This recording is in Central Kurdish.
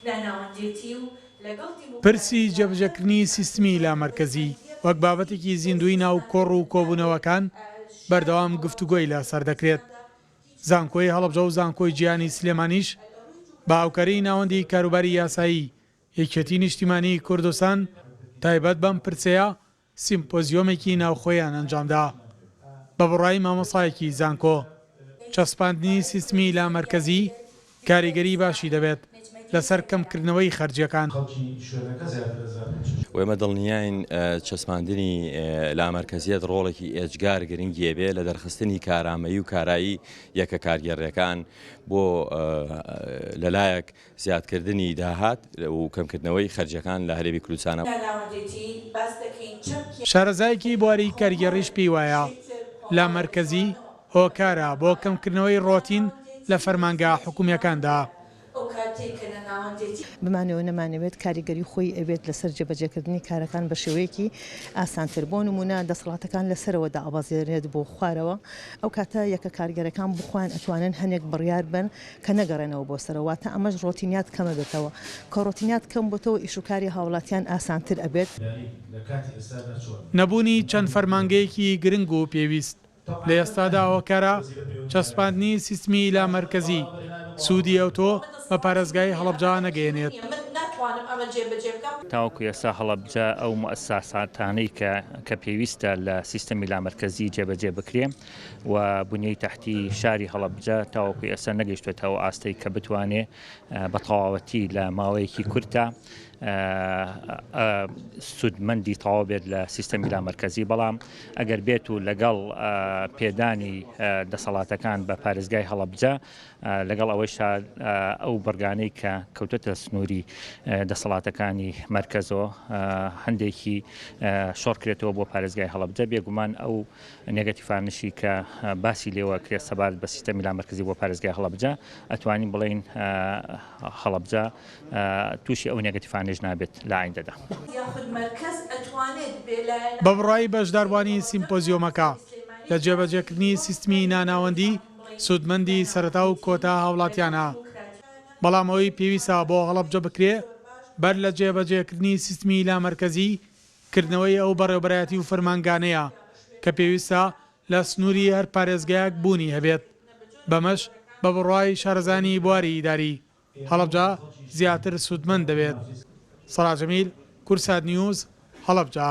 لە ناوەندێتی و لەگەڵ دیموکراسی پرسی جێبەجێکردنی سیستمی لامەرکەزی وەک بابەتێکی زیندووی ناو کۆڕ و کۆبوونەوەکان بەردەوام گفتوگۆی لەسەر دەکرێت. زانکۆی هەڵەبجە و زانکۆی جیهانی سلێمانیش بە هاوکاریی ناوەندی کاروباری یاسایی یەکێتی نیشتیمانیی کوردستان تایبەت بەم پرسەیە سیمپۆزیۆمێکی ناوخۆیان ئەنجامدا بە بڕای مامۆستایەکی زانکۆ، چەسپاندنی سیستمی لامەرکەزی کاریگەری باشی دەبێت لەسەر کەمکردنەوەی خەرجیەکان. خەڵکی شوێنەکە زیاتر ئەزانن چ شتێکە. ئێمە دڵنیاین چەسپاندنی لامەرکەزیەت ڕۆڵێکی ئێجگار گرنگی ئەبێ لە دەرخستنی کارامەیی و کارایی یەکە کارگێڕیەکان بۆ لەلایەک زیادکردنی داهات و کەمکردنەوەی خەرجیەکان لە هەرێمی کوردستان. شارەزایەکی بواری کارگێڕیش پێی وایە لە مەرکەزی هۆکارە بۆ کەمکردنەوەی ڕۆتین لە فەرمانگە حکومیەکاندا. بمانەوێت نەمانەوێت کاریگەری خۆی ئەبێت لەسەر جێبەجێکردنی کارەکان بە شێوەیەکی ئاسانتر، بۆ نمونە دەسەڵاتەکان لە سەرەوە دابەزێنرێت بۆ خوارەوە، ئەو کاتە یەکە کارگێرەکان بۆ خۆیان ئەتوانن هەنێک بڕیار بەن، کە نەگەڕێنەوە بۆ سەرەوە واتە ئەمەش ڕۆتینیات کەمە بێتەوە کە ڕۆتینیات کەم بۆتەوە ئیش و کاری هاوڵاتیان ئاسانتر ئەبێت. نەبوونی چەند فەرمانگەیەکی گرنگ و پێویست لە ئێستادا هۆکارە، چەسپاندنی سیستمی لا مەرکەزی، سوودی ئەوتۆ بە پارێزگای هەڵەبجە نەگەیەنێت. تاوەکو ئێستا هەڵەبجە ئەو موئەساساتانەی کە کە پێویستە لە سیستەمی لامەرکەزی جێبەجێ بکرێ و بنیەی تەحتی شاری هەڵەبجە تاوەکوی ئێستا نەگەیشتوێتە ئەو ئاستەی کە بتوانێ بە تەواوەتی لە ماوەیەکی کورتا سوودمەندی تەواو بێت لە سیستەمی لامەرکەزی بەڵام ئەگەر بێت و لەگەڵ پێدانی دەسەڵاتەکان بە پارێزگای هەڵەبجە لەگەڵ ئەوەی شار ئەو بڕگانەی کە کەوتەتە سنووری دەسەڵاتەکانی مرکزەوە هەندێکی شۆڕکرێتەوە بۆ پارێزگای هەڵەبجە بێگومان ئەو نێگەتیڤانشی کە باسی لێوە ئەکرێت سەبارەت بە سیستەمی لامەرکەزی بۆ پارێزگای هەڵەبجە، ئەتوانین بڵێین هەڵەبجە تووشی ئەو نێگەتیڤانەش نابێت لە ئایندەدا. بە بڕوای بەشداروانی سیمپۆزیۆمەکە، لە جێبەجێکردنی سیستمی ناناوەندی، سوودمەندی سەرەتا و کۆتا هاوڵاتیانە. بەڵام ئەوەی پێویستە بۆ هەڵەبجە بکرێت، بەر لە جێبەجێکردنی سیستمی لامەرکەزی، کردنەوەی ئەو بەڕێوبەرایەتی و فەرمانگانەیە کە پێویستە لە سنووری هەر پارێزگایەک بوونی هەبێت، بەمەش بە بڕوای شارەزایانی بواری ئیداری، هەڵەبجە زیاتر سوودمەند دەبێت. سەراج ئەمیر، کورسات نیوز، هەڵەبجە.